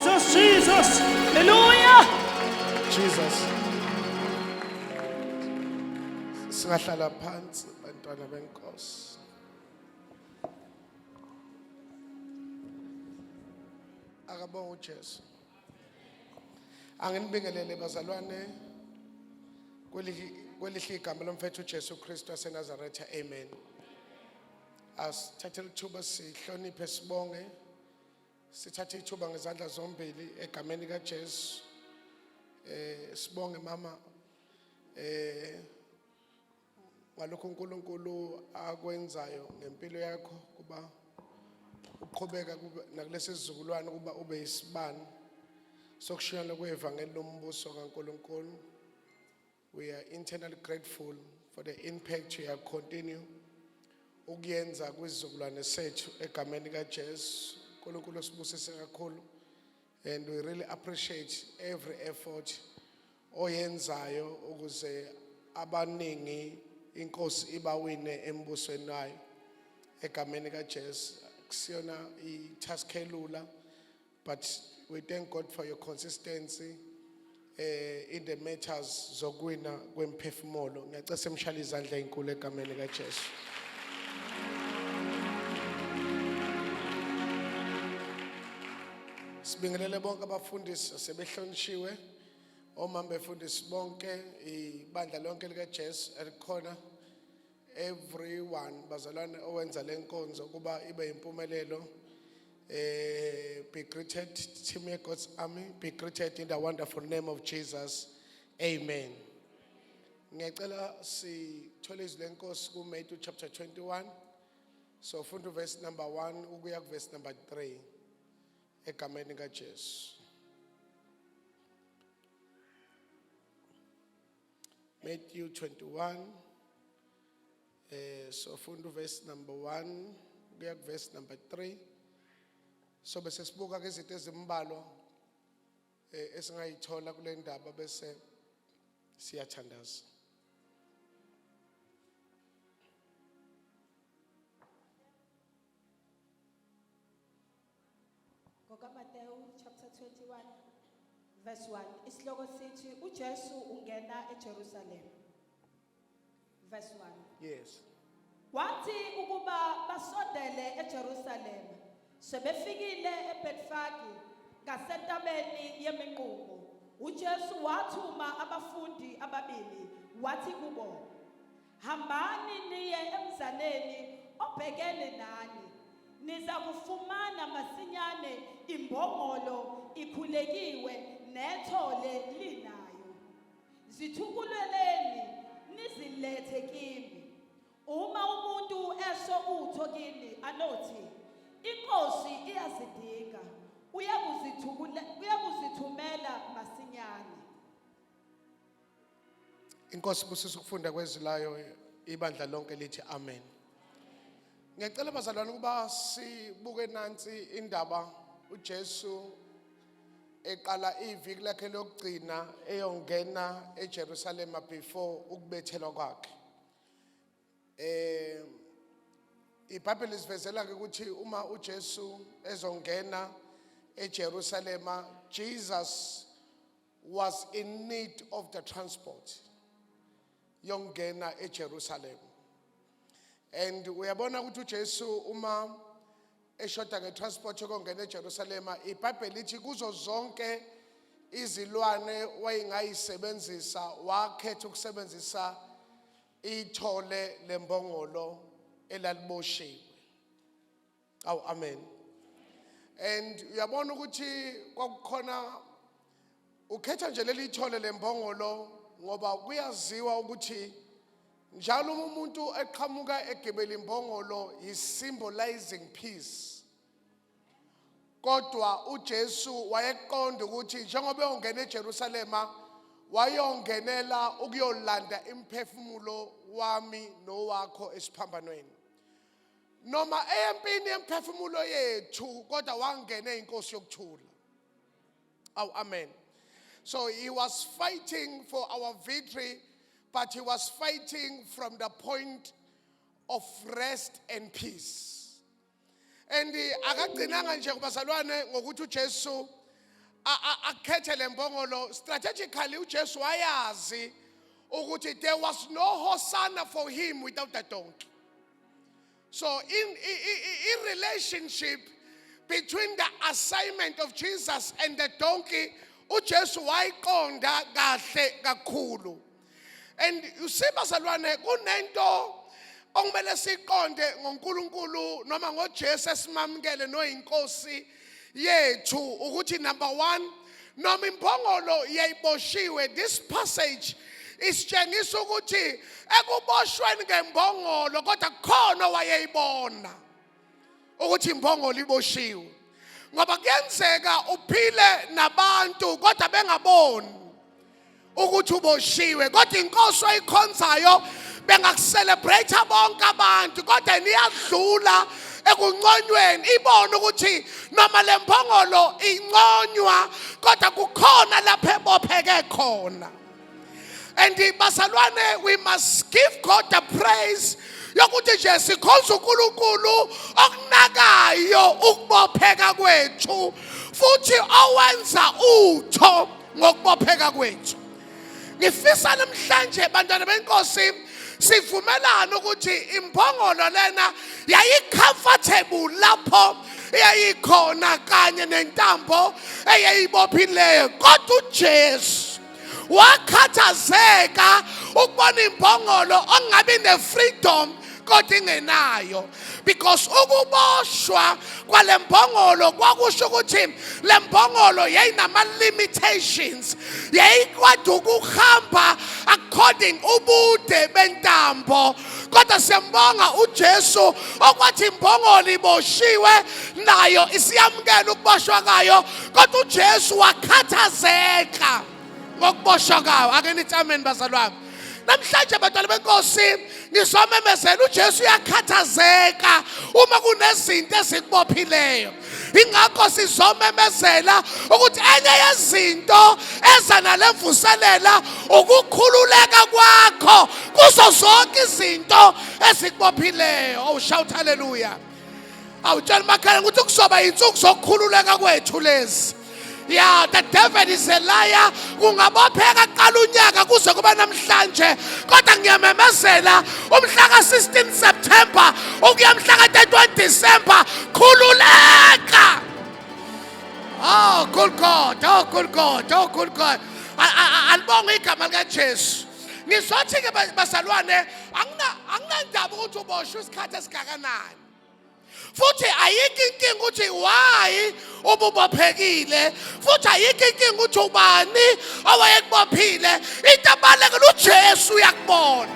Jesus, Jesus. Hallelujah. Jesus. Singahlala phansi bantwana benkosi. Akabonga uJesu. Anginibingelele bazalwane kwelihi kwelihle igama lomfethu uJesu Kristu waseNazaretha. Amen. Asithathe lithuba sihloniphe sibonge Sithathe ithuba ngezandla zombili egameni kaJesu. Eh sibonge mama eh ngalokho uNkulunkulu akwenzayo ngempilo yakho kuba uqhubeka nakulesi sizukulwane kuba ube isibani sokushiyana kwevangeli lombuso kaNkulunkulu. We are internally grateful for the impact you have continue ukuyenza kwizizukulwane sethu egameni kaJesu. uNkulunkulu osibusise kakhulu and we really appreciate every effort oyenzayo ukuze abaningi inkosi ibawine embusweni wayo egameni kaJesu kusiyona i-task elula But we thank God for your consistency eh in the matters zokwina kwemphefumulo. Ngiyacela semshale izandla ezinkulu egameni likaJesu. Sibingelele bonke abafundisi asebehlonitshiwe. Omama befundisi bonke ibandla lonke likaJesu elikhona everyone bazalwane owenza lenkonzo kuba ibe impumelelo eh be greeted team ye God's army be greeted in the wonderful name of Jesus amen ngiyacela sithole izwi lenkosi ku Matthew chapter 21 so funda verse number 1 ukuya ku verse number 3 egameni kaJesu Matthew 21 eh sofunda uverse number 1 kuya kuverse number 3 so bese sibuka ke izinto ezimbalwa eh, esingayithola kule ndaba bese siyathandaza NgokaMatewu chapter 21 verse 1 isihloko sithi uJesu ungena eJerusalem verse 1 Yes. Wathi ukuba basondele eJerusalem sebefikile eBetfage ngasentabeni yeminqumo uJesu wathuma abafundi ababili wathi kubo Hambani niye emzaleni obhekene nani, niza kufumana masinyane imbongolo ikhulekiwe nethole linayo. Zithukuleleni nizilethe kimi. Uma umuntu esho utho kimi anothi inkosi iyazidinga uyakuzithumela masinyane. Inkosi busisa ukufunda kwezilayo ibandla lonke lithi amen. Ngiyacela bazalwane ukuba sibuke nansi indaba uJesu eqala iviki lakhe lokugcina eyongena eJerusalem before ukubethelwa kwakhe. Eh iBhayibheli isivezela ke ukuthi uma uJesu ezongena eJerusalem Jesus was in need of the transport yongena eJerusalem and uyabona ukuthi uJesu uma eshoda ngetransport yokongena eJerusalem iBhayibheli lithi kuzo zonke izilwane wayengayisebenzisa wakhetha ukusebenzisa ithole lembongolo elaliboshiwe awu amen and uyabona ukuthi kwakukhona ukhetha nje leli thole lembongolo ngoba kuyaziwa ukuthi njalo uma umuntu eqhamuka egebela imbongolo yi-symbolizing peace kodwa ujesu wayeqonda ukuthi njengoba eyongena ejerusalema wayongenela ukuyolanda imphefumulo wami nowakho esiphambanweni noma eyempini yemphefumulo yethu kodwa wangena inkosi yokuthula aw amen so he was fighting for our victory but he was fighting from the point of rest and peace and akagcinanga nje kubazalwane ngokuthi uJesu akhethe lembongolo strategically uJesu wayazi ukuthi there was no hosanna for him without a donkey So, in, in, in relationship between the assignment of Jesus and the donkey, uJesu wayiqonda kahle kakhulu. And you see bazalwane kunento okumele siqonde ngoNkulunkulu noma ngoJesu esimamukele noyinkosi yethu ukuthi number 1 noma imbongolo yayiboshiwe this passage isitshengisa ukuthi ekuboshweni ngembongolo kodwa kukhona owayeyibona ukuthi imbongolo iboshiwe ngoba kuyenzeka uphile nabantu kodwa bengaboni ukuthi uboshiwe kodwa inkosi oyikhonzayo bengakucelebrate bonke abantu kodwa niyadlula ekunconyweni ibone ukuthi noma le mbongolo inconywa kodwa kukhona lapho ebopheke khona and bazalwane we must give god the praise yokuthi nje sikhonza uNkulunkulu okunakayo ukubopheka kwethu futhi owenza utho ngokubopheka kwethu ngifisa namhlanje bantwana benkosi sivumelana ukuthi imbongolo lena yayicomfortable lapho eyayikhona kanye nentambo eyayibophileyo kodwa uJesu wakhathazeka ukubona imbongolo ongabi nefreedom kodwa ingenayo because ukuboshwa kwale mbongolo kwakusho ukuthi le mbongolo yayinama-limitations yayikwade ukuhamba according ubude bentambo kodwa siyambonga ujesu okwathi imbongolo iboshiwe nayo isiyamukela ukuboshwa kayo kodwa ujesu wakhathazeka ngokuboshwa kawo ake nithi amen bazalwane namhlanje bantwana benkosi ngizomemezela uJesu uyakhathazeka uma kunezinto ezikubophileyo ingakho sizomemezela ukuthi enye yezinto eza nale mvuselela ukukhululeka kwakho kuzo zonke izinto ezikubophileyo oh shout hallelujah awutshela umakhelwane ukuthi kuzoba yinsuku zokukhululeka kwethu lezi ya the devil is a liar kungabopheka qala unyaka kuze kube namhlanje kodwa ngiyamemezela umhla ka-16 september ukuya mhla ka-31 december khululeka oh good god oh good god oh good god alibonge igama likajesu Ngizothi-ke bazalwane anginandaba ukuthi uboshwe isikhathi esingakanani. futhi ayikho inkinga ukuthi why ububophekile futhi ayikho inkinga ukuthi ubani owayekubophile into abalekela uJesu uyakubona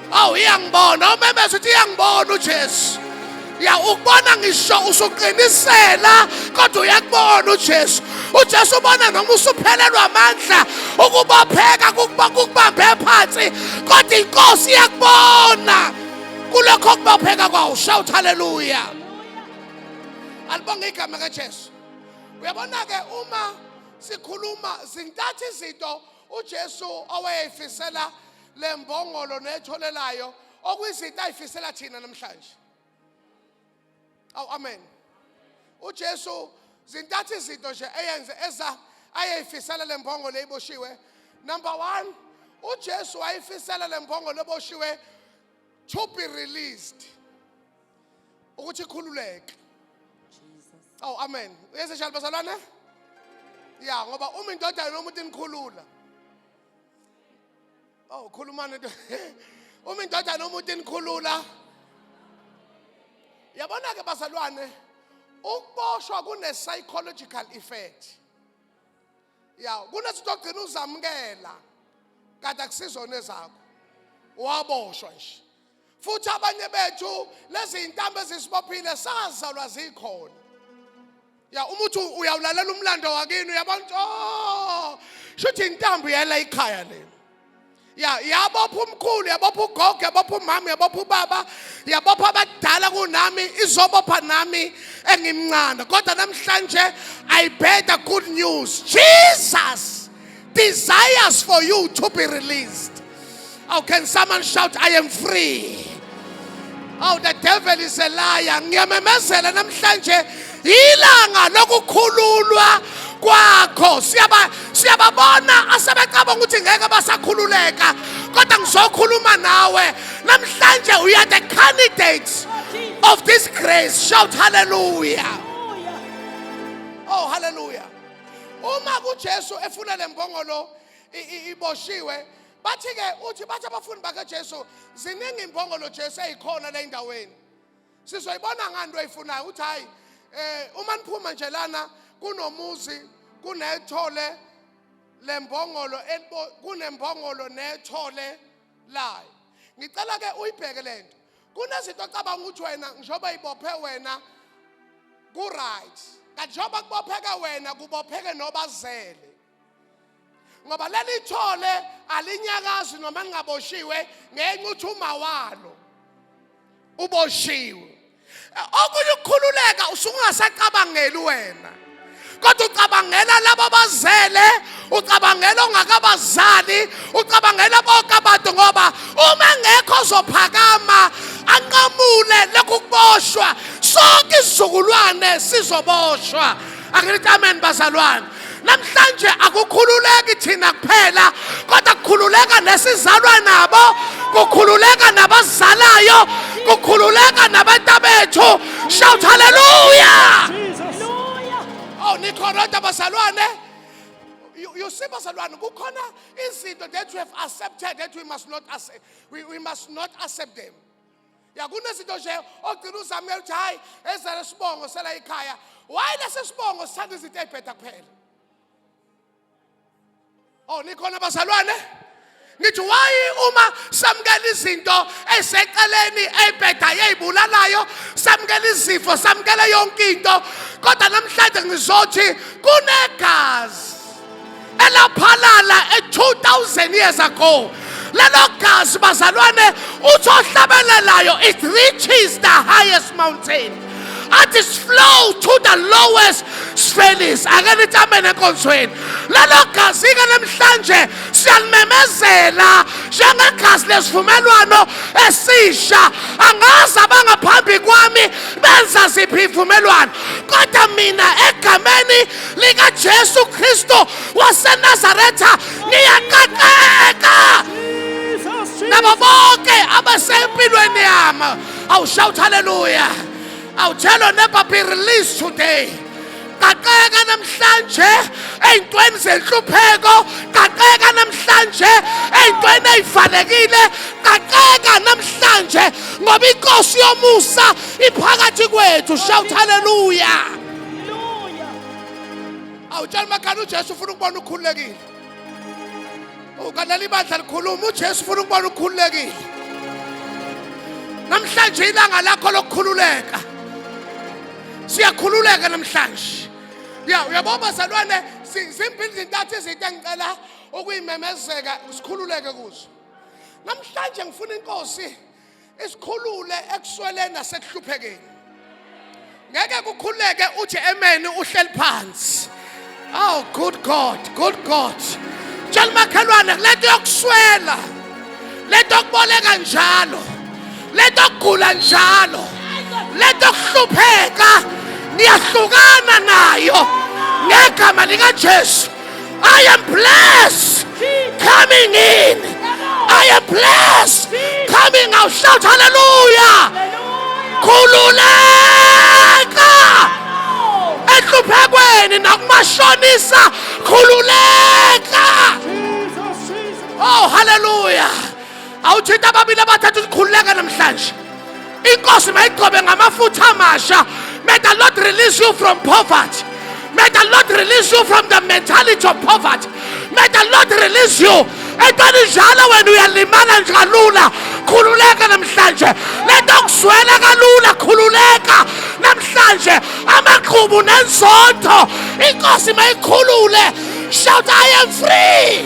awu iyangibona umemeza uthi iyangibona ujesu ya ukubona ngisho usuqinisela kodwa uyakubona ujesu ujesu ubona noma usuphelelwa amandla ukubopheka kukubambe phansi kodwa inkosi iyakubona kulokho kubopheka kwawo shout haleluya alibonge igama kajesu uyabona-ke uma sikhuluma zintathu izinto ujesu owayeyifisela lembongolo netholelayo okuyizinto ayifisela thina namhlanje awu amen uJesu zintathu izinto nje eyenze eza ayeyifisela lembongo leyiboshiwe number 1 uJesu wayifisela lembongo leboshiwe to be released ukuthi ikhululeke awu oh, amen uyeze njalo bazalwane ya ngoba uma indodana yomuntu inikhulula Oh, khulumani uma indodana umuntu enikhulula yabona ke bazalwane ukuboshwa kune psychological effect ya kunezinto ogcina uzamukela kanti akusizona ezakho waboshwa nje futhi abanye bethu lezi zintambo ezisibophile sazalwa zikhona ya uma uthi uyawulalela umlando wakini uyabona ukuthi oh shuthi intambo yela ikhaya le ya yabopha umkhulu yabopha ugogo yabopha umama yabopha ubaba yabopha abadala kunami izobopha nami engimncane kodwa namhlanje i better good news jesus desires for you to be released. Oh, can someone shout, I am free? Oh, the devil is a liar. Ngiyamemezela namhlanje ilanga lokukhululwa kwakho. Siyaba siyababona asebecabanga ukuthi ngeke basakhululeka. Kodwa ngizokhuluma nawe. Namhlanje we are the candidates of this grace. Shout hallelujah. Oh, hallelujah. uma kuJesu efuna lembongolo iboshiwe bathi ke uthi bathi abafundi bakaJesu ziningi imbongolo Jesu eyikhona la endaweni sizoyibona ngani into ayifunayo uthi hayi eh uma niphuma nje lana kunomuzi kunethole lembongolo kunembongolo nethole layo ngicela ke uyibheke lento kunezinto ocabanga ukuthi wena njengoba ibophe wena ku-right kanti njengoba kubopheke wena kubopheke nobazele ngoba leli thole alinyakazi noma lingaboshiwe ngenxa ukuthi uma walo uboshiwe okunye ukukhululeka usungasacabangeli wena kodwa ucabangela labo bazele ucabangela ongakabazali ucabangela bonke abantu ngoba uma ngekho ozophakama anqamule lokhu kuboshwa sonke isizukulwane sizoboshwa angithi amen bazalwane namhlanje akukhululeki thina kuphela kodwa kukhululeka nesizalwa nabo kukhululeka nabazalayo kukhululeka nabantabethu Shout hallelujah. Jesus. Oh nikhona kodwa bazalwane. You, you see bazalwane kukhona izinto that we have accepted that we must not accept, we, we must not accept them. Ya kunezinto nje ogcina uzamela ukuthi hayi ezale sibongo sela ikhaya. Why lesisibongo sithanda izinto ezibheda kuphela? Oh nikhona bazalwane? Ngithi why uma samukela izinto eseceleni ebheda yeyibulalayo samukela izifo samukela yonke into kodwa namhlanje ngizothi kunegazi elaphalala e 2000 years ago lelo gazi bazalwane uthi ohlabelelayo it reaches the highest mountain athi slow to the lowest sphelis ake nithi amen enkonzweni lelo gazi-ke namhlanje siyalimemezela njengegazi lesivumelwano esisha angazi abangaphambi kwami benza ziphi ivumelwano kodwa mina egameni likajesu kristu wasenazaretha ngiyaqaqeka nabo bonke abasempilweni yami I'll shout hallelujah. I'll tell your neighbor be released today. qaqeka namhlanje ey'ntweni zenhlupheko qaqeka namhlanje ey'ntweni ey'valekile qaqeka namhlanje ngoba inkosi yomusa iphakathi kwethu shout haleluya awutshela umakhani ujesu ufuna ukubona ukhululekile ukalela ibandla likhuluma uJesu ufuna ukubona ukhululekile namhlanje ilanga lakho lokukhululeka siyakhululeka namhlanje ya uyabo bazalwane zimbili zintathu izinto engicela ukuyimemezeka sikhululeke kuzo namhlanje ngifuna inkosi isikhulule ekusweleni nasekuhluphekeni ngeke kukhuleke uthi amen uhleli phansi oh good god good god tshela umakhelwane lento yokuswela lento yokuboleka njalo lento yokugula njalo lento yokuhlupheka niyahlukana nayo ngegama likajesu I am blessed coming in. I am blessed coming out. Shout hallelujah. Khululeka enhluphekweni nakumashonisa khululeka. Oh hallelujah. awuthinta ababili abathathu sikhululeka namhlanje inkosi mayigcobe ngamafutha amasha may the lord release you from poverty may the lord release you from the mentality of poverty may the lord release you entweni njalo wena uyalimala nje kalula khululeka namhlanje lento kuswela kalula khululeka namhlanje amaqhubu nenzotho inkosi mayikhulule shout i am free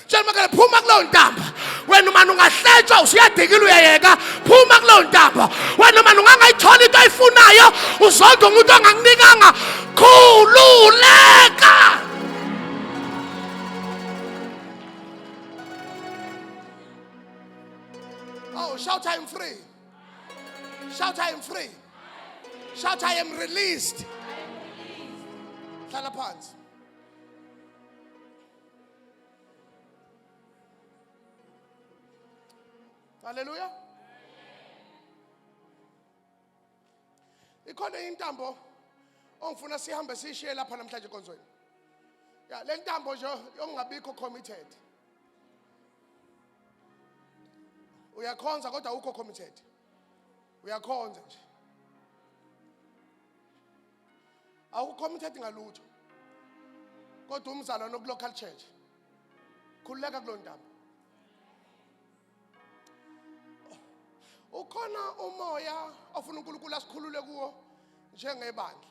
tshela umakhelwane phuma kuleyo ntambo wena umane ungahletshwa usuyadikile uyayeka phuma kuleyo ntambo wena umane ungangayithola into oyifunayo uzonda umuntu ongakunikanga khululeka Oh, shout, I am free. Shout, I am free. Shout, I am released. Hlala phansi. Hallelujah. Ikhona intambo ongifuna sihambe sishiye lapha namhlanje konzweni. Ya le ntambo nje yongabikho committed. Uyakhonza kodwa ukho committed. Uyakhonza nje. awukho umthetho ngalutho kodwa umzalwane okulocal church khululeka kulo ndaba ukhona umoya ofuna uNkulunkulu asikhulule kuwo njengebandla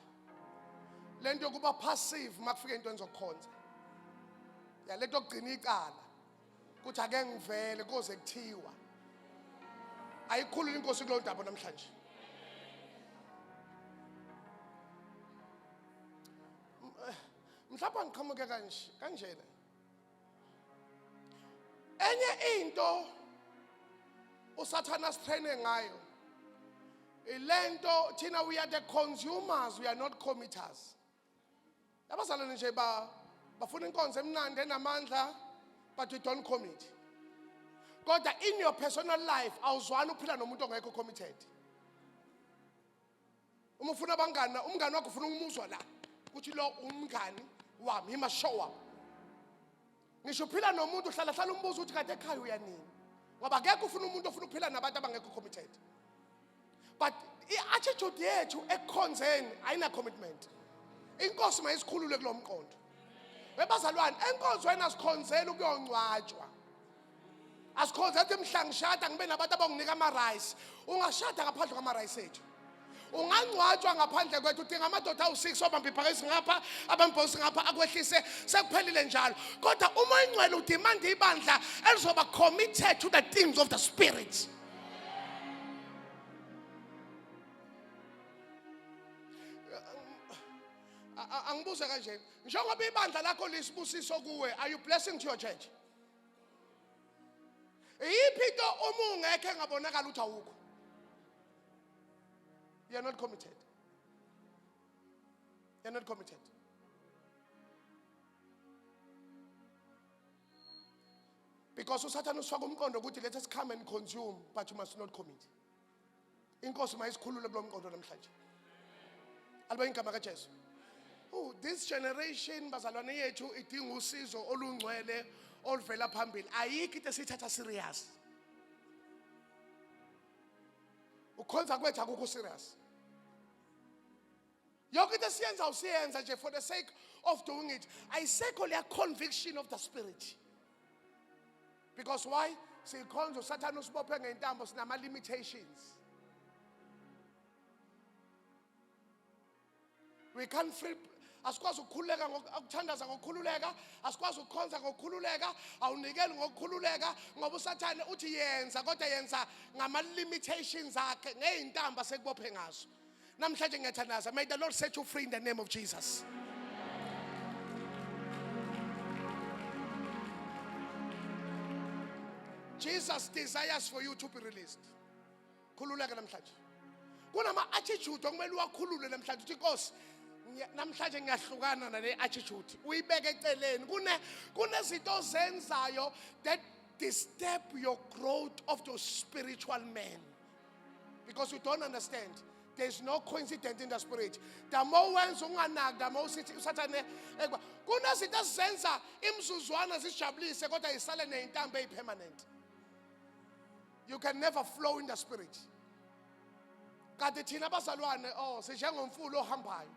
lento yokuba passive makufika into enzokhonza ya lento yokugcina icala ukuthi ake ngivele koze kuthiwa ayikhulula inkosi kulo ndaba namhlanje eh, mhlawumbe ngiqhamuke kanje kanjena enye into usathana sitraine ngayo ilento thina we are the consumers we are not committers abazalwane nje ba bafuna inkonzo emnandi enamandla but we don't commit kodwa in your personal life awuzwani ukuphila nomuntu ongekho committed uma ufuna abangani umngani wakho ufuna umuzwa la ukuthi lo umngani wami imashowa ngisho uphila nomuntu uhlala hlala umbuzo ukuthi kade ekhaya uyanini ngoba akekho ufuna umuntu ofuna ukuphila nabantu abangekho committed but i-attitude yethu ekukhonzeni ayina-commitment inkosi mayisikhulule kulo mqondo webazalwane enkonzweni asikhonzeli ukuyongcwatshwa asikhonze athi mhla ngishada ngibe nabantu abanginika ama-rice ungashada ngaphandle kwama-rice ethu ungangcwatshwa ngaphandle kwethu udinga amadoda awu-six obamba iphakesi ngapha abambhosi ngapha akwehlise sekuphelile njalo kodwa uma ingcwele udimanda ibandla elizoba committed to the things of the spirit angibuze kanje njengoba ibandla lakho lisibusiso kuwe are you blessing to your church iyiphi into uma ungekho engabonakala ukuthi awukho you're not committed you're not committed because usathane usifaka umqondo ukuthi let us come and consume but you must not commit inkosi mayisikhulule kulo mqondo namhlanje aliba ingama kajesu Oh, this generation bazalwane yethu idinga usizo olungcwele oluvela phambili ayikho into esiyithatha serious ukhonza kwethu akukho serious yonke into esiyenza usiyenza nje for the sake of doing it ayisekho leya conviction of the spirit because why sikhonza usathane usibophe ngentambo sinama-limitations we can't free asikwazi ukukhululeka ukuthandaza ngokukhululeka asikwazi ukukhonza ngokukhululeka awunikeli ngokukhululeka ngoba usathane uthi yenza kodwa yenza ngama-limitations akhe ngey'ntambo asekubophe ngazo namhlanje ngiyathandaza may the lord set you free in the name of jesus jesus desires for you to be released khululeka namhlanje kunama-attitude okumele uwakhulule namhlanje uthi inkosi ngiya- namhlanje ngiyahlukana nale attitude uyibeke eceleni Kune- kunezinto ozenzayo that disturb your growth of your spiritual man because you don't understand there's no coincidence in the spirit the more wenza unganaki the more usithi usathane ekuba kunezinto ezizenza imizuzwana zijabulise kodwa isale neyintambo eyipermanent you can never flow in the spirit kanti thina abazalwane oh sinjengomfula ohambayo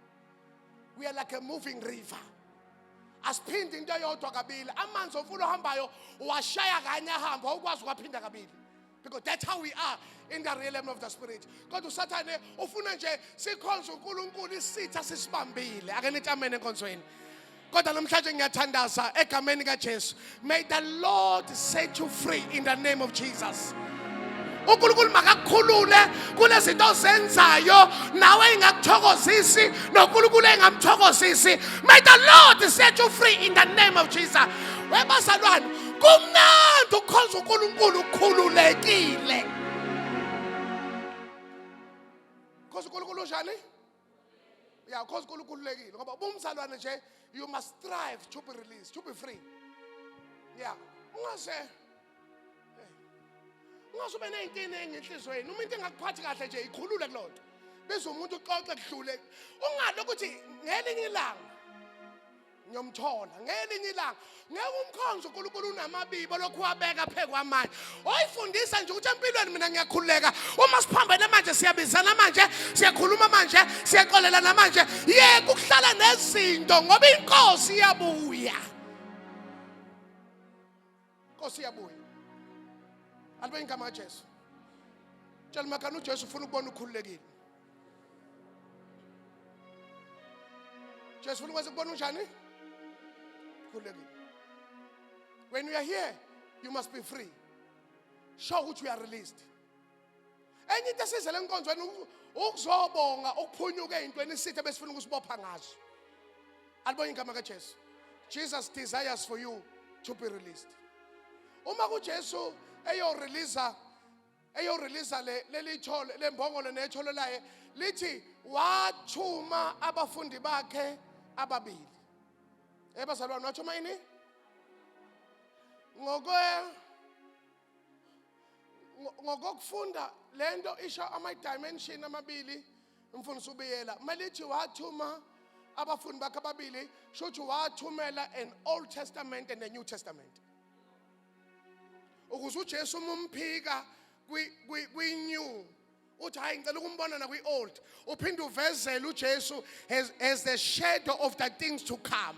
we are like a moving river asiphinde into eyodwa kabili amanzi omfula ohambayo washaya kanye ahamba ukwazi ukwaphinda kabili because that's how we are in the realm of the spirit kodwa usathane ufuna nje sikhonze uNkulunkulu isitha sisibambile ake nithi amen enkonzweni kodwa namhlanje ngiyathandaza egameni kaJesu may the lord set you free in the name of jesus uNkulunkulu makakukhulule kulezinto ozenzayo nawe ingakuthokozisi noNkulunkulu engamthokozisi may the lord set you free in the name of jesus webasalwane kumnandi ukukhonza uNkulunkulu ukhululekile khonza uNkulunkulu njani ya khonza uNkulunkulu ukhululekile ngoba ubumzalwane nje you must strive to be released to be free ya ungaze ungaze ube ney'nkinga engenhlizweni uma into engakuphathi kahle nje ikhulule kuloo nto biza umuntu uxoxe kudlule ungalo ukuthi ngelinye ilanga ngiyomthola ngelinye ilanga ngeke umkhonzo uNkulunkulu unamabibo lokhu wabeka phezu kwamanje oyifundisa nje ukuthi empilweni mina ngiyakhululeka uma siphambene manje siyabizana manje siyakhuluma manje siyaxolelana manje yeke ukuhlala nezinto ngoba inkosi iyabuya Nkosi yabuya. Alibeni igama kaJesu. Tshela makana uJesu ufuna ukubona ukhululekile. Jesu ufuna ukwenza ukubona unjani? Ukhululekile. When you are here, you must be free. Show ukuthi you are released. enye into esizele enkonzweni ukuzobonga ukuphunyuka ezintweni isithe besifuna ukusibopha ngazo alibonye igama kaJesu Jesus desires for you to be released uma kuJesu eyo release eyo release le lelithole lembongolo nethole laye lithi wathuma abafundi bakhe ababili ebazalwane wathuma ini ngokwe ngokokufunda le nto isho ama-dimension amabili umfundisi ubiyela uma lithi wathuma abafundi bakhe ababili sho ukuthi wathumela an old testament and a new testament ukuze ujesu uma umphika kwi-new uthi hayi ngicela ukumbona nakwi-old uphinde uvezele ujesu as, as the shadow of the things to come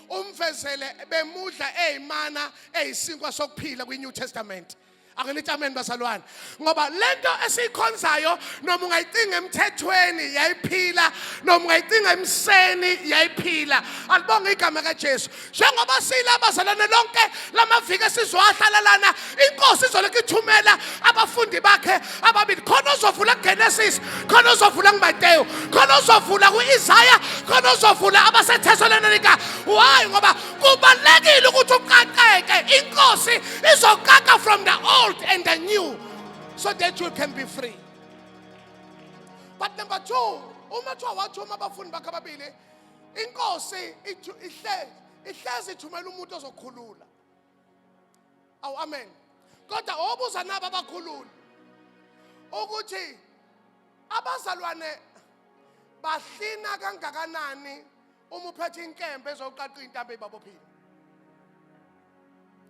umvezele bemudla eyimana eyisinkwa sokuphila kwi-new testament akelithi amen bazalwane ngoba lento esiyikhonzayo noma ungayicinga emthethweni yayiphila noma ungayicinga emseni yayiphila alibonge igama kaJesu njengoba siyila bazalwane lonke lamaviki esizowahlala lana inkosi izolokhu ithumela abafundi bakhe ababili khona ozovula kugenesis khona ozovula kumateyu khona ozovula ku-isaya khona ozovula abasethesaloninika why ngoba kubalulekile ukuthi uqaqeke inkosi izoqaqa from the old and the new so that you can be free but number two uma kuthiwa wathuma abafundi bakhe ababili inkosi ithu- ihle- ihlezi ithumela umuntu ozokhulula awu amen kodwa obuza nabo abakhululi ukuthi abazalwane bahlina kangakanani uma uphethe inkembe ezoqaqa intambo eyibabophile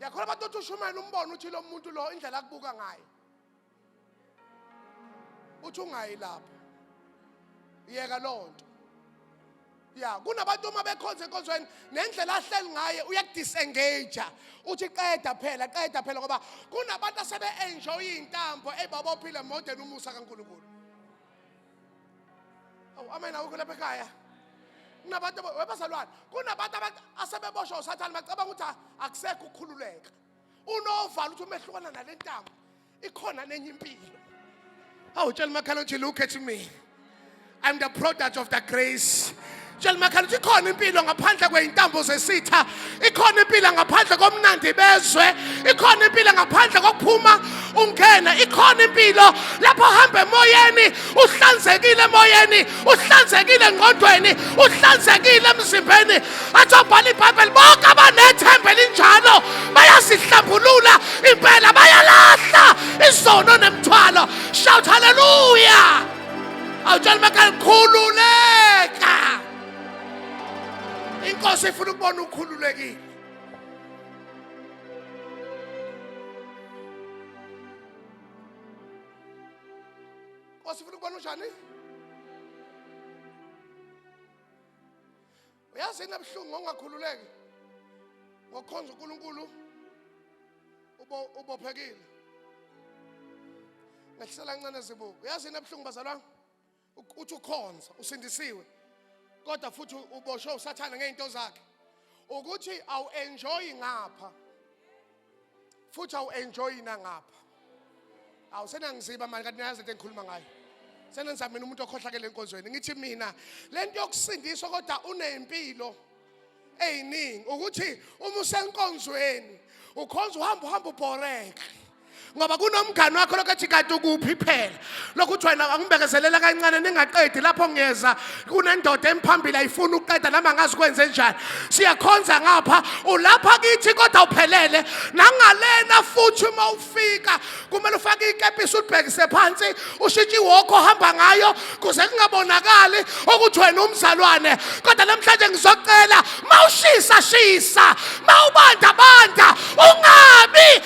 yakhona abantu othi ushumayela umbono uthi lo muntu lo indlela akubuka ngayo uthi ungayi lapho yeka loo nto ya kunabantu uma bekhonza enkonzweni nendlela ahleli ngaye uyakudisengage uthi qeda phela qeda phela ngoba kunabantu asebe-enjoye iy'ntambo eyibabophile modeni umusa kankulunkulu awu amen awukho lapha ekhaya kunabantu webazalwane kunabantu asebeboshwa usathane bacabanga ukuthi akusekho ukukhululeka unovalo ukuthi umehlukana nale ntambo ikhona nenye impilo awu tshela umakhala ukuthi look at me i'm the product of the grace tshela umakhala ukuthi ikhona impilo ngaphandle kwey'ntambo zesitha ikhona impilo ngaphandle komnandi bezwe ikhona impilo ngaphandle kokuphuma ungena ikhona impilo lapho hamba emoyeni uhlanzekile emoyeni uhlanzekile engqondweni uhlanzekile emzimbeni athi obhala ibhayibheli bonke abanethemba elinjalo bayasihlambulula impela bayalahla izono nemthwalo shout haleluya awutshela umakhala khululeka inkosi ifuna ukubona ukhululekile Nkosi ufuna ukubona unjani? Uyazi yini ebuhlungu ngokungakhululeki? Ngokukhonza uNkulunkulu ubo ubophekile. Ngehlisela kancane zibuko. Uyazi yini ebuhlungu bazalwane? Uk- Uthi ukhonza usindisiwe. Kodwa futhi uboshwe usathane ngezinto zakhe. Ukuthi awu enjoy ngapha. futhi awu-enjoyi nangapha awu senangiziba mani kanti nayazi into engikhuluma ngayo senenza mina umuntu okhohlakele enkonzweni ngithi mina le nto yokusindiswa kodwa uney'mpilo ey'ningi ukuthi uma usenkonzweni ukhonza uhamba uhamba ubhoreke ngoba kunomngani wakho lokho ethi kanti ukuphi phela lokhu uthi wena angibekezelela kancane ningaqedi lapho ngiyeza kunendoda emphambili ayifuni ukuqeda nami angazi kwenze njani siyakhonza ngapha ulapha kithi kodwa uphelele nangalena futhi uma ufika kumele ufake ikepisi ulibhekise phansi ushintshe iwokho ohamba ngayo kuze kungabonakali ukuthi wena umzalwane kodwa namhlanje ngizocela mawushisa shisa mawubanda banda ungabi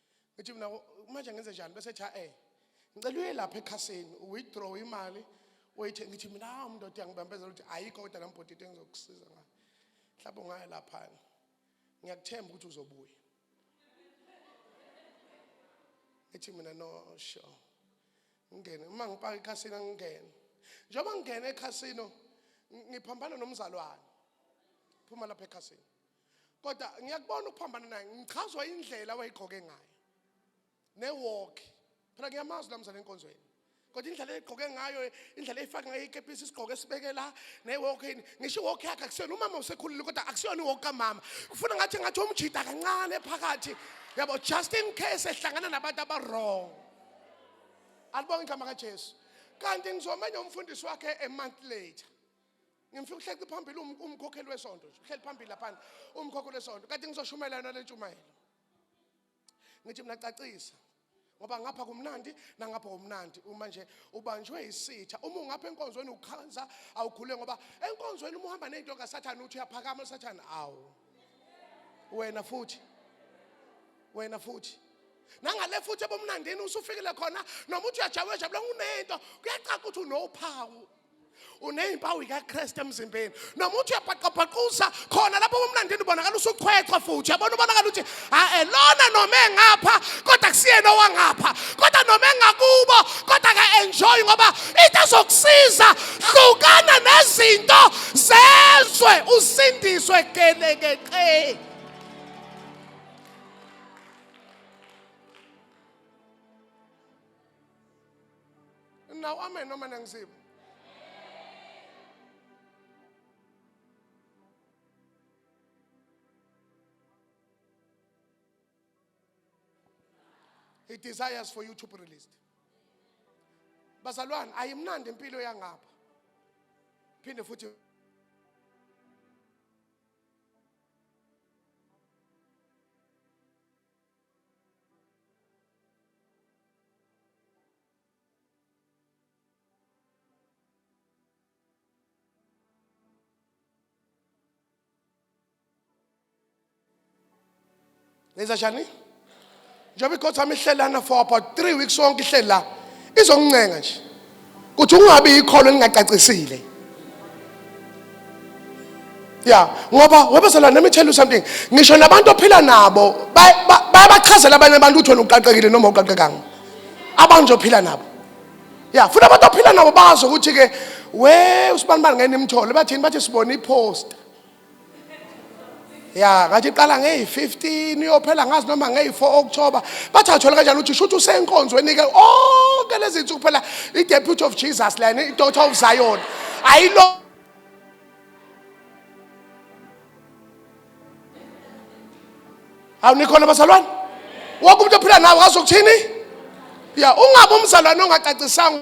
ngithi mina manje ngenze njani bese ethi eh ngicela uye lapha ekhasini withdraw imali wayithe ngithi mina hawu ah, mndoda yangibambezela ukuthi ayikho kodwa lambhoti into engizokusiza ngayo mhlawumbe ungaya laphana ngiyakuthemba ukuthi uzobuya ngithi mina no sure ngingene uma ngipaka ekhasini angingene njengoba ngingene ekhasino ngiphambana nomzalwane phuma lapha ekhasini kodwa ngiyakubona ukuphambana naye ngichazwa indlela wayigqoke ngayo newalk phela ngiyamazi la mzali enkonzweni kodwa indlela egqoke ngayo indlela efaka ngayo ikepisi isigqoko esibeke la newalk ngisho iwalk yakhe akusiyona umama usekhulile kodwa akusiyona iwalk kamama kufuna ngathi ngathi umjida kancane phakathi yabo just in case ehlangana nabantu abawrong alibonge igama kajesu kanti ngizomenye umfundisi wakhe a month later ngimfika uhleli phambili um-, umkhokheli wesonto nje uhleli phambili laphana umkhokheli wesonto kanti ngizoshumela yona le ntshumayelo ngithi mina cacisa ngoba ngapha kumnandi nangapha kumnandi uma nje ubanjwe isitha uma ungapha enkonzweni ukhansa awukhule ngoba enkonzweni uma uhamba nezinto kasathane uthi uyaphakama usathane awu wena futhi wena futhi nangale futhi ebomnandini usufikile khona noma uthi uyajabula jabula unento kuyacaca ukuthi unophawu unezimpawu zikaKristu emzimbeni noma uthi uyabhaqabhaquza khona lapho umlandini ubonakala usuchwechwa futhi yabona ubonakala ukuthi hae lona noma engapha kodwa kusiyena owangapha kodwa noma engakubo kodwa ka enjoy ngoba into ezokusiza hlukana nezinto zezwe usindiswe gelekeqe Now amen noma nangizima. He desires for you to be released. Bazalwane ayimnandi impilo yangapha. Phinde futhi Ngenza njani? Njengoba ikhotha ihlelana for about 3 weeks sonke ihlela. Izongincenga nje. ukuthi ungabi ikhono elingacacisile ya ngoba webezela nami tell you something ngisho nabantu ophila nabo bayabachazela abanye abantu ukuthi wena uqaqekile noma uqaqekanga abanje ophila nabo ya futhi abantu ophila nabo bazi ukuthi-ke we usibanibani ngeke nimthole bathini bathi sibone iposta ya ngathi iqala ngeyi-15 iyophela ngazi noma ngeyi-4 okuthoba bathi athole kanjani ukuthi shuthi usenkonzweni-ke onke lezi nsuku phela i-deputy of jesus lena i-daughter of zion ayilo awu nikhona bazalwane wonke umuntu ophila nawe ngazi ukuthini ya ungabe umzalwane ongacacisanga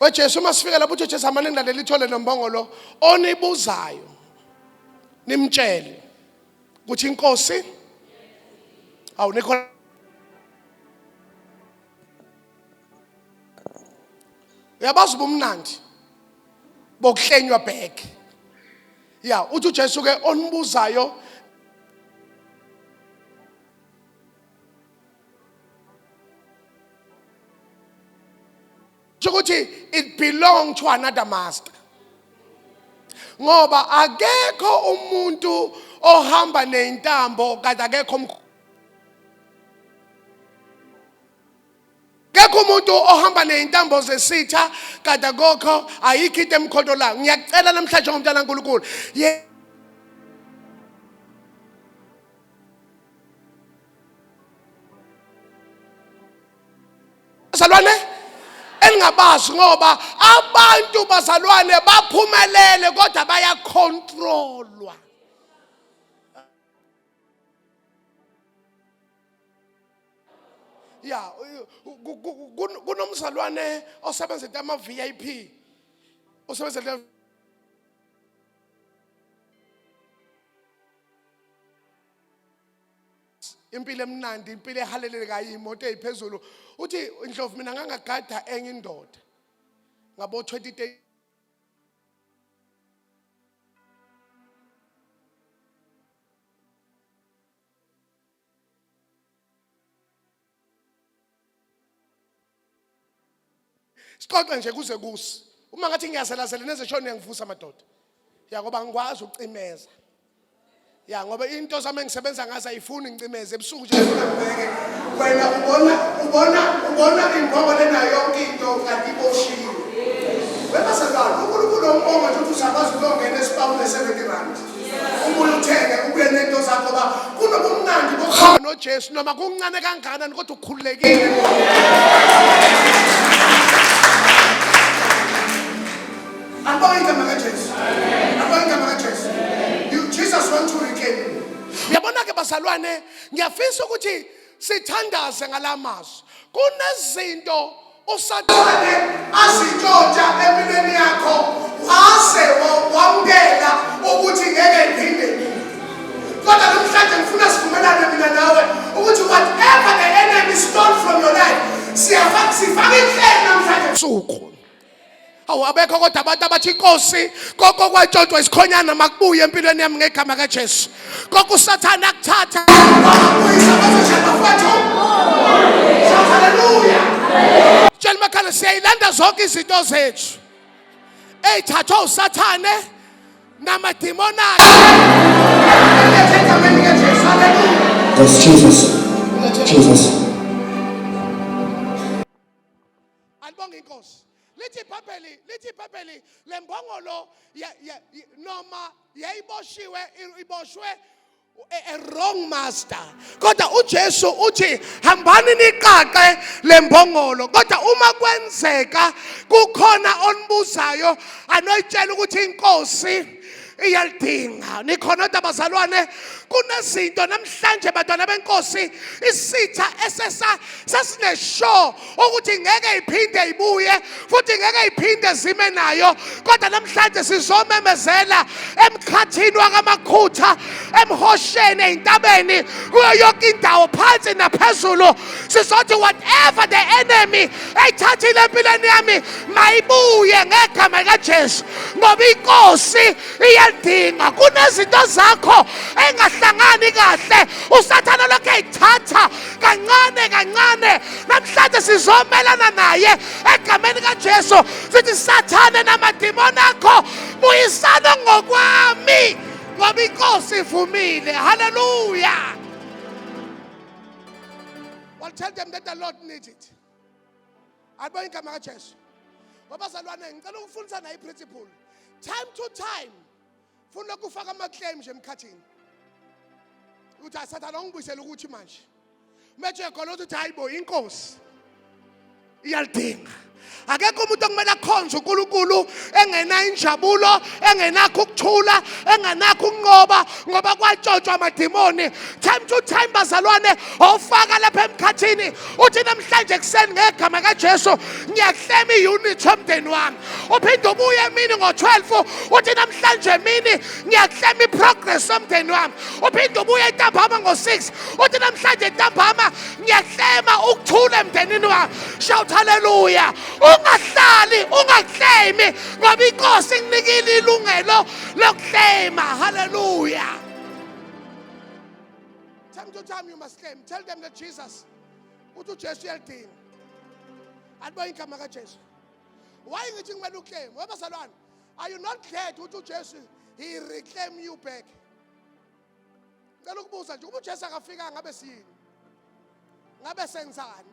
wejesu uma sifika lapho uthi jesu amane ngilalele ithole nombongo lo onibuzayo nimtshele ukuthi inkosi awu nikho uyabazi ubumnandi bokuhlenywa back ya uthi ujesu ke onibuzayo ukuthi it belong to another master ngoba akekho umuntu ohamba nezintambo kanti akekho umkhulu akekho umuntu ohamba nezintambo zesitha kade akokho ayikho into emkhontolayo ngiyacela namhlanje ngomntana kaNkulunkulu Bazalwane elingabazi ngoba abantu bazalwane baphumelele kodwa bayakhontrolwa. ya kunomzalwane osebenza into ama VIP osebenza into impilo emnandi impilo ehalelekayo imoto eyiphezulu uthi ndlovu mina ngangagada enye indoda ngabo 20 sixoxe nje kuze kusi uma ngathi ngiyazelazela neze shona uyangivusa madoda ya ngoba ngikwazi ukucimeza ya ngoba into zami engisebenza ngazo ayifuni ngicimeze ebusuku nje wena ubona ubona ubona ingoba lena yonke into kanti iboshiwe webazalwane unkulunkulu ombonga nje ukuthi usakwazi ukuyongena esibawule 70 rand ubuye uthenge ubuye nento zakho uba kunobumnandi bokuhamba nojesu noma kuncane kangakanani kodwa ukhululekile bazalwane ngiyafisa ukuthi sithandaze ngalamazwi kunezinto usathane azintshontsha empilweni yakho waze wamukela ukuthi ngeke ngiphinde kodwa namhlanje ngifuna sivumelane mina nawe ukuthi whatever the enemy stole from your life siyafaka inhlelo namhlanje suku awu abekho kodwa abantu abathi inkosi konke okwatshontshwa isikhonyana makubuye empilweni yami ngegama kajesu konke usathane akuthatha tshela umakhala siyayilanda zonke izinto zethu eyithathwa usathane namadimoni akhe Jesus. Jesus. alibonga inkosi lithi ibhayibheli lithi ibhayibheli le mbongolo noma yayiboshiwe iboshwe a wrong master kodwa uJesu uthi hambani niqaqe lembongolo kodwa uma kwenzeka kukhona onibuzayo anoyitshela ukuthi inkosi iyalidinga nikhona kodwa bazalwane kunezinto namhlanje bantwana benkosi isitha esesa sesineshow ukuthi ngeke iphinde ibuye futhi ngeke iphinde zime nayo kodwa namhlanje sizomemezela emkhathini wakamakhutha emhosheni ezintabeni kuyo yonke indawo phansi naphezulu sizothi whatever the enemy eyithathile empilweni yami mayibuye ngegama likajesu ngoba inkosi iyalidinga kunezinto zakho engahlangani kahle usathana lokhu eyithatha kancane kancane namhlanje sizomelana naye egameni kajesu sithi sathane namadimoni akho buyisana ngokwami ngoba inkosi ivumile haleluya Well, tell them that the Lord needs it. Alibona igama kaJesu. Babazalwane ngicela ukufundisa nayi principle. Time to time funa ukufaka ama claim nje emkhathini. Uthi asathana ungibuyisela ukuthi manje. Manje khona uthi hayibo inkosi. iyalidinga akekho umuntu okumele akhonze uNkulunkulu engenayo injabulo engenakho ukuthula engenakho ukunqoba ngoba kwatshotshwa amadimoni time to time bazalwane ofaka lapha emkhathini uthi namhlanje kuseni ngegama kaJesu ngiyahlema iunit yomndeni wami uphinde ubuye emini ngo12 uthi namhlanje emini ngiyahlema iprogress yomndeni wami uphinde ubuye ntambama ngo6 uthi namhlanje ntambama ngiyaklema ukuthula emndenini wakho shout haleluya ungahlali ungaklemi ngoba inkosi ikunikile ilungelo lokuklema haleluya time to time you must claim tell them that jesus uthi ujesu uyalidinga aliboye igama kajesu waye ngithi kumele ukleme webazalwane are you not glad ukuthi ujesu he reclaim you back ngicela ukubuza nje uma uJesu akafika ngabe siyini ngabe senzani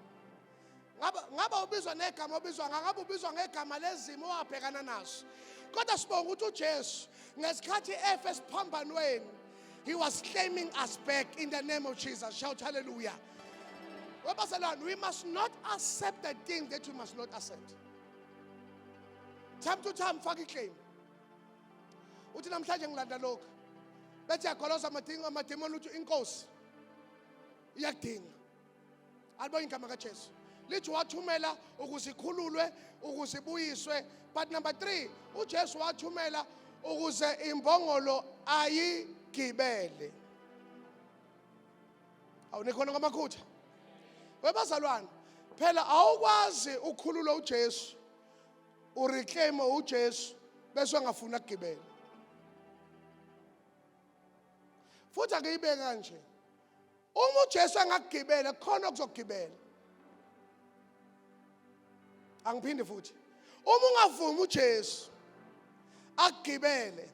ngaba ngaba ubizwa negama obizwa ngakho ubizwa ngegama lezimo owabhekana nazo kodwa sibonga ukuthi uJesu ngesikhathi efe siphambanweni he was claiming us back in the name of Jesus shout hallelujah webaselwana we must not accept the thing that we must not accept time to time faka iclaim uthi namhlanje ngilanda lokhu bethi yagoloza amadingo amademoni uthi inkosi iyakudinga alibonye igama kajesu lithi wathumela ukuze ikhululwe ukuze ibuyiswe but number 3 uJesu wathumela ukuze imbongolo ayigibele awunikhona ngamakhutha webazalwane phela awukwazi ukukhulula uJesu ureclaim uJesu bese angafuni agibele futhi akuyibeke kanje uma uJesu angagibela khona okuzogibela angiphinde futhi uma ungavumi uJesu agibele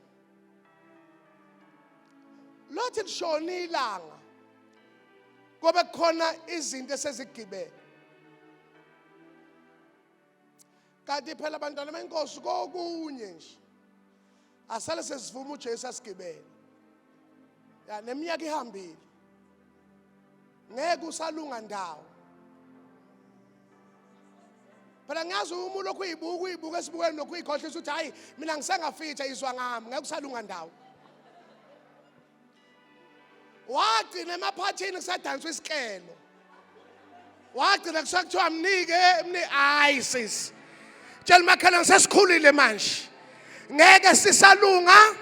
lothi lishona ilanga kobe khona izinto esezigibele kanti phela bantwana benkosi kokunye nje asale sesivuma uJesu asigibele ya neminyaka ihambile ngeke usalunga ndawo phela ngiyazi uma ulokhu uyibuka uyibuka esibukweni lokhu uyikhohlisa ukuthi hhayi mina ngisengafitha izwa ngami ngeke usalunga ndawo wagcina emaphathini kusadanswa isikelo wagcina kusuka kuthiwa mnike mnike hayi sisi tshela umakhelwane sesikhulile manje ngeke sisalunga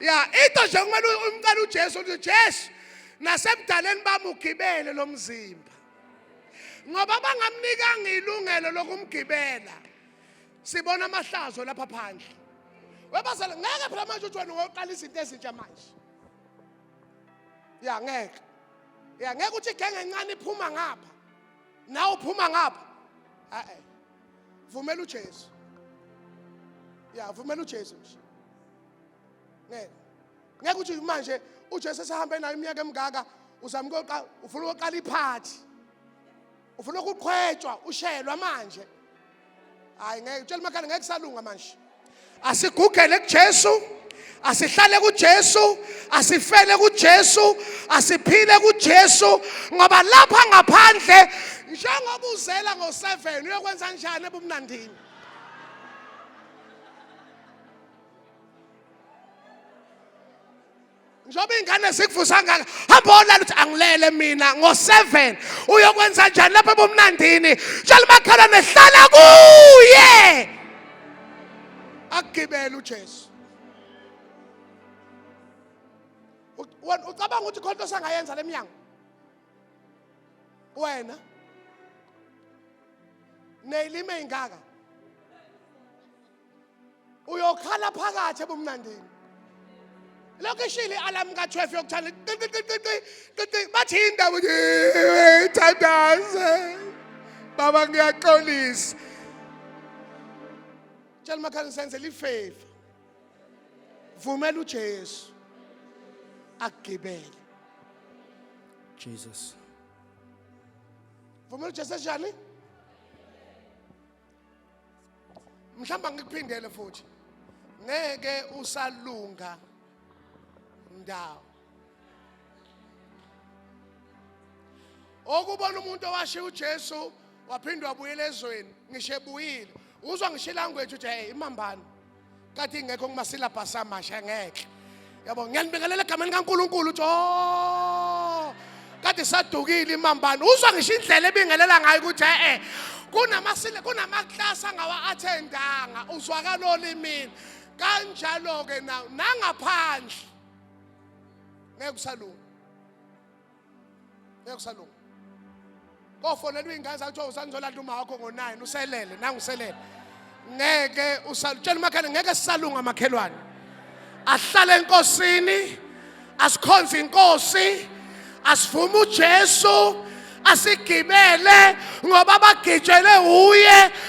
ya into nje kumele umcela uJesu uthi Jesu nasebudaleni bami ugibele lo mzimba ngoba bangamnikanga ilungelo lokumgibela sibona amahlazo lapha phandle webazala ngeke phela manje uthi wena ngoqala izinto ezintsha manje ya ngeke ya ngeke uthi igenge encane iphuma ngapha nawe uphuma ngapha a-e vumela ujesu ya vumela ujesu nje ngeke ngeke uthi manje ujesu esahambe nayo iminyaka emingaka uzama ukuyoqala ufuna ukuyoqala iphathi ufuna ukuqhwetshwa ushelwa manje hayi ngeke utshela umakhanda ngeke kusalunga manje asigugele kuJesu asihlale kuJesu asifele kuJesu asiphile kuJesu ngoba lapha ngaphandle njengoba uzela ngo7 uyokwenza njani ebumnandini njengoba iy'ngane zikuvusa ngaka hamba olala ukuthi angilele mina ngo-seven uyokwenza njani lapha ebumnandini tshela umakhelwane hlala kuye akugibele ujesu ucabanga ukuthi khona into osangayenza le mnyango wena neyilime ingaka uyokhala phakathi ebumnandini lokhu ishile i-alarm ka-12 yokuthanda qiqiqiqiqiqi bathi indawo ithandaze baba ngiyaxolisa tshela umakhani senzela ifeva vumela ujesu akugibele Jesus. vumela ujesu enjani mhlawumbe ngikuphindele futhi ngeke usalunga ndawo okubona umuntu owashiya uJesu waphinde wabuyela ezweni ngisho ebuyile uzwa ngisho ilanguage uthi hey imambani kathi ingekho kumasilabhasi amasha ngeke yabo ngiyanibingelela egameni likaNkuluNkulu jo kade sadukile imambane uzwa ngisho indlela ebingelela ngayo ukuthi eh kunamasile kunamaklasi angawa-athendanga uzwakala olimini kanjalo-ke nangaphandle ngeke usalunga ngeke usalunga kofonelwa iy'ngane zakho kuthiwa usangizolanda uma wakho ngo-nine uselele nanguselele ngeke usalutshela umakhelwane ngeke sisalunga makhelwane ahlale enkosini asikhonze inkosi asivume ujesu asigibele ngoba bagitshelwe wuye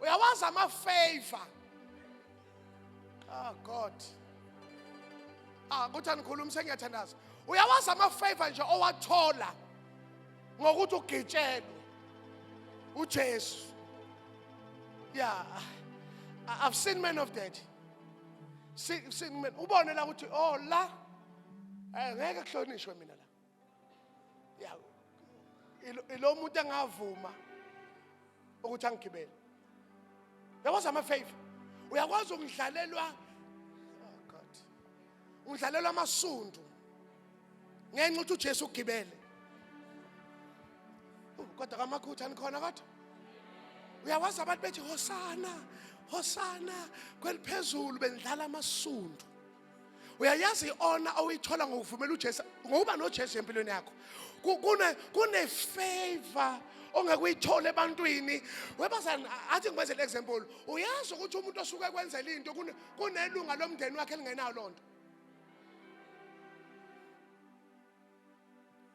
uyawazi amafavor ah god ah kuthi anikhulumi sengiyathandaza uyawazi amafavor nje owathola ngokuthi ugitshelwe uJesu yeah i've seen men of that seen men ubone la ukuthi oh la eh, ngeke kuhlonishwe mina la ya ilo muntu engavuma ukuthi angigibele yabona ama favor uyakwazi ukudlalelwa oh god ungidlalelwa amasundu ngenxa ukuthi uJesu ugibele kodwa kamakhutha nikhona kodwa uyawazi abantu bethi hosana hosana kweliphezulu bendlala amasundu uyayazi i-ona oyithola ngokuvumela ujesu ngokuba nojesu empilweni yakho kunefavor ongeke uyithole ebantwini webazani athi ngikwenzele example uyazi ukuthi umuntu osuke kwenzela into kunelunga lomndeni wakhe elingenayo loo nto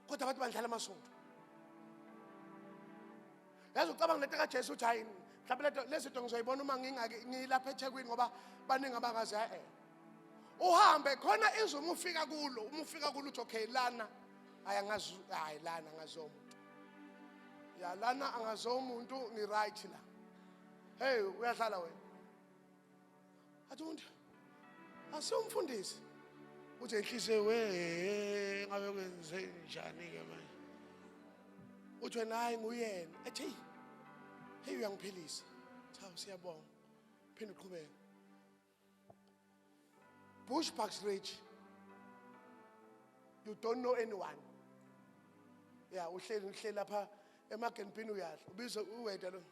kodwa abantu bandlala amasonto yazi ucabanga lento kajesu ukuthi hayi mhlawumbe leto lezi zinto ngizoyibona uma ngingake ngilapha ethekwini ngoba baningi abangazi e-e uhambe khona izwe uma ufika kulo uma ufika kulo uthi okay lana hayi angazi hayi lana angaziwa umuntu ya lana angaziwa umuntu ngi-right la heyi uyadlala wena athi umuntu asiyomfundisi uthi enhliziyo we ngabe kwenze njani ke manje uthi wena hayi nguyena athi hey hey uyangiphilisa cha siyabonga phinde uqhubeke bush parks ridge you don't know anyone ya uhleli uhleli lapha emagenpini uyadla ubize uweda lo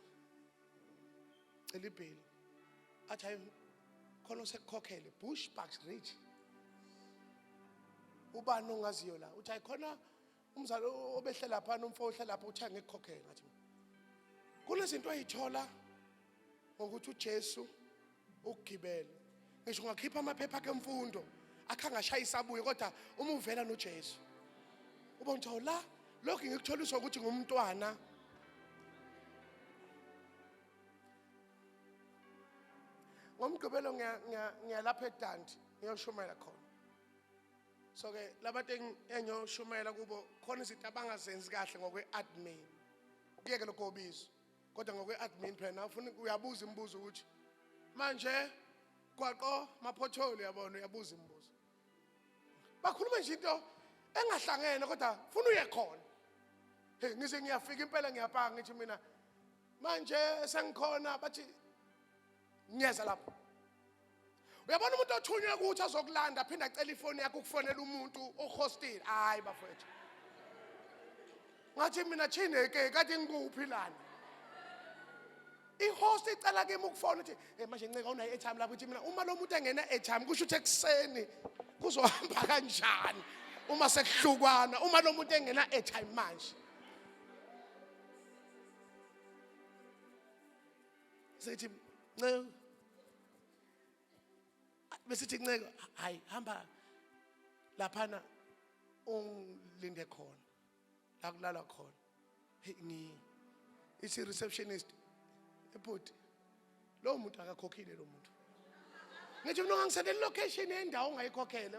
cela ibheli athi hayi khona usekukhokhele bush bucks rich ubani ongaziyo la uthi hayi khona umzali obehlela phana umfo ohlela lapha uthi angekukhokhele ngathi kunezinto ayithola ngokuthi uJesu ukugibela ngisho ungakhipha amaphepha akhe emfundo akhangashayi sabuye kodwa uma uvela noJesu uba ngithiwa la lokhu ngikutholiswa ukuthi ngumntwana ngomgqibelo ngiyalapha edanti ngiyoshumayela khona so ke labantu engiyoshumayela kubo khona izinto abangazenzi kahle ngokwe-admin kuyeke lokho obizo kodwa ngokwe-admin phela ufuna uyabuza imibuzo ukuthi manje gwaqo maphotholi yabona uyabuza imibuzo bakhuluma nje into engahlangene kodwa funa uye khona hey ngize ngiyafika impela ngiyapanga ngithi mina manje sengikhona bathi ngiyeza lapho uyabona umuntu othunywe ukuthi azokulanda aphinde acela ifoni yakho ukufonela umuntu ohostile hayi bafowethu ngathi mina chineke kade ngikuphi lana ihost icela kimi ukufona ukuthi hey manje nceka unayo airtime lapho ukuthi mina uma lo muntu engena airtime kusho ukuthi ekuseni kuzohamba kanjani uma sekuhlukwana uma lo muntu engena airtime manje Sithi nceku besithi nceku hayi hamba laphana ungilinde khona la kulala khona ngi isi receptionist ebhuti lo muntu akakhokhile lo muntu ngithi mina ngangisendela location yendawo ongayikhokhele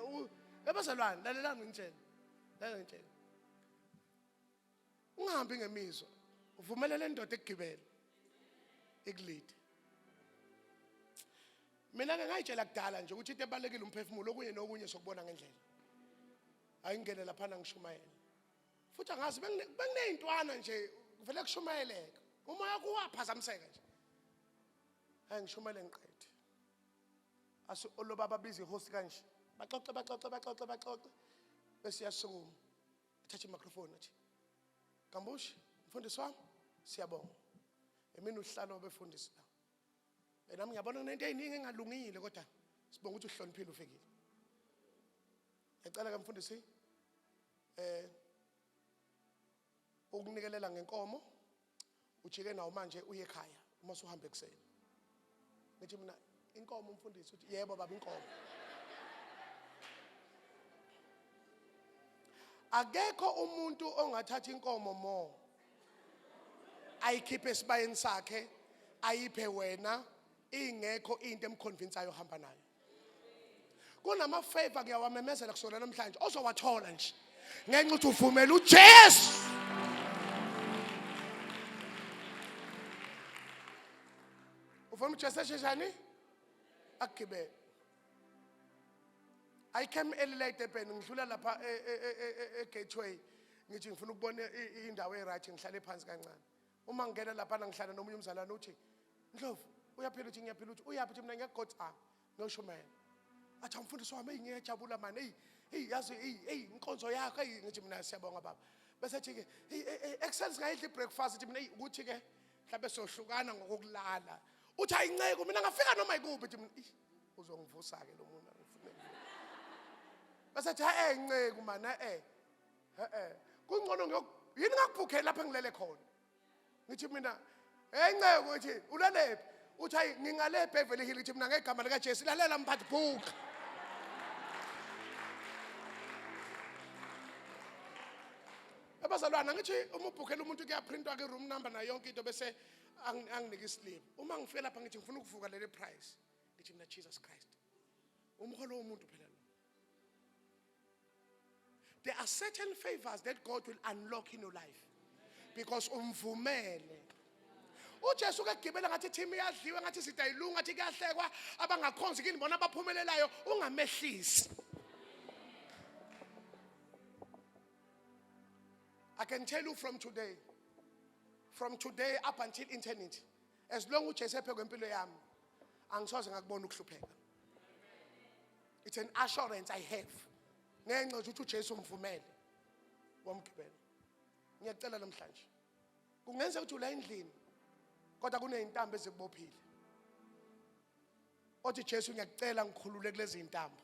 ebazalwane lalelani ngitshela lalelani ngitshela ungahambi ngemizwa uvumelele indoda ekugibele ikulide mina ke ngayitshela kudala nje ukuthi into ebalekile umphefumulo okunye nokunye sokubona ngendlela ayingene lapha nangishumayela futhi angazi bengineyintwana nje kuvele kushumayeleka uma yakho waphazamiseka nje ayingishumayele ngiqede asu olobaba bizi host kanje baxoxe baxoxe baxoxe baxoxe besiyasukuma Thatha i-microphone athi, Gambushi, mfundisi wami, siyabonga. Emini uhlala obefundisi la. Eh, nami ngiyabona kunento eyiningi engalungile kodwa sibonga ukuthi uhloniphile ufikile. Ngiyacela ke mfundisi eh ukunikelela ngenkomo ujike nawo manje uye ekhaya uma suhamba ekuseni ngithi mina inkomo umfundisi uthi yebo baba inkomo akekho umuntu ongathatha inkomo mo ayikhiphe esibayeni sakhe ayiphe wena ingekho into emkhonvinsayo hamba nayo kunama favor kuyawamemezela kusona namhlanje ozowathola nje ngenxa ukuthi uvumela uJesu ufuna uJesu esheshani akugibele I came early late Durban ngidlula lapha e, e, e, e-gateway ngithi ngifuna ukubona indawo e-right ngihlale phansi kancane uma ngingena laphana ngihlala nomunye umzalwane uthi ndlovu uyaphila uthi ngiyaphila uthi uyaphi uthi mina ngiyagothi a ngiyoshumayela athi umfundisi wami eyi ngiyajabula mani eyi eyi yazi eyi eyi inkonzo yakho eyi ngithi mina siyabonga baba bese thi-ke e, e, ekuseni singayidli ibreakfast ithi mina eyi ukuthi-ke mhlawumbe siyohlukana ngokokulala uthi ayinceku mina ngafika noma yikuphi ithi mina uzongivusa-ke lo muntu angifune bese thi ha-e nceku mani e-e e-e kungcono ngiyok yini ngakubhukheli lapho engilele khona ngithi mina hey nceko ngithi ulelephi uthi hayi ngingale ebeverly hill ngithi mina ngegama likajesu lalela mphathi bhuka abazalwana ngithi uma ubhukhela umuntu kuyaprintwa ke-room number nayo yonke into bese angi- anginike isiliphu uma ngifike lapha ngithi ngifuna ukuvuka leli price ngithi mina jesus christ umholo womuntu phela lo There are certain favors that God will unlock in your life because umvumele ujesu ke gibela ngathi team iyadliwe ngathi sidayilunga ngathi kuyahlekwa abangakhonzi kini bona abaphumelelayo ungamehlisi I can tell you from today, from today up until eternity, as long uJesu ephe kwempilo yami angisoze ngakubona ukuhlupheka it's an assurance i have ngenxa ukuthi uJesu umvumele wamgibela ngiyacela namhlanje kungenzeka ukuthi ula endlini kodwa kunezintambo ezikubophile othi Jesu ngiyakucela ngikhulule kulezi intambo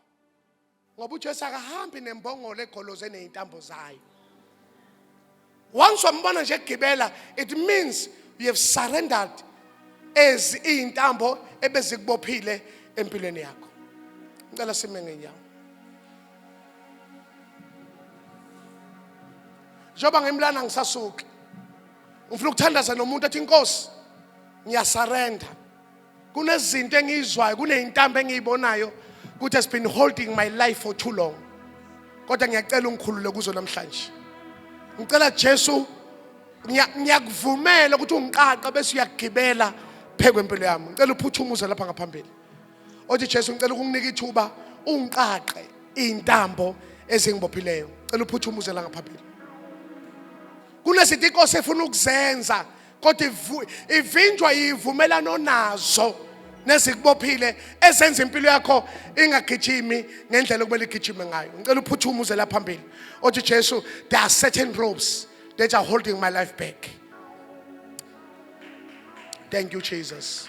ngoba uJesu akahambi nembongolo egoloze nezintambo zayo once wambona nje egibela it means you have surrendered as izintambo ebezikubophile empilweni yakho ngicela sime ngenyawo njengoba ngimlana ngisasuki ngifuna ukuthandaza nomuntu athi inkosi ngiyasarenda kunezinto engiyizwayo kuneyintambo engiyibonayo ukuthi has been holding my life for too long kodwa ngiyacela ungikhulule kuzo namhlanje ngicela Jesu ngiyakuvumela ukuthi ungiqaqe bese uyagibela phekwe impilo yami ngicela uphuthumuze lapha ngaphambili othi Jesu ngicela ukunginika ithuba ungiqaqe izintambo ezingibophileyo cela uphuthumuze la ngaphambili kunezinto inkosi efuna ukuzenza kodwa ivinjwa yivumelano onazo nezikubophile ezenza impilo yakho ingagijimi ngendlela okumele igijime ngayo ngicela uphuthume uze la phambili othi Jesu there are certain ropes that are holding my life back thank you Jesus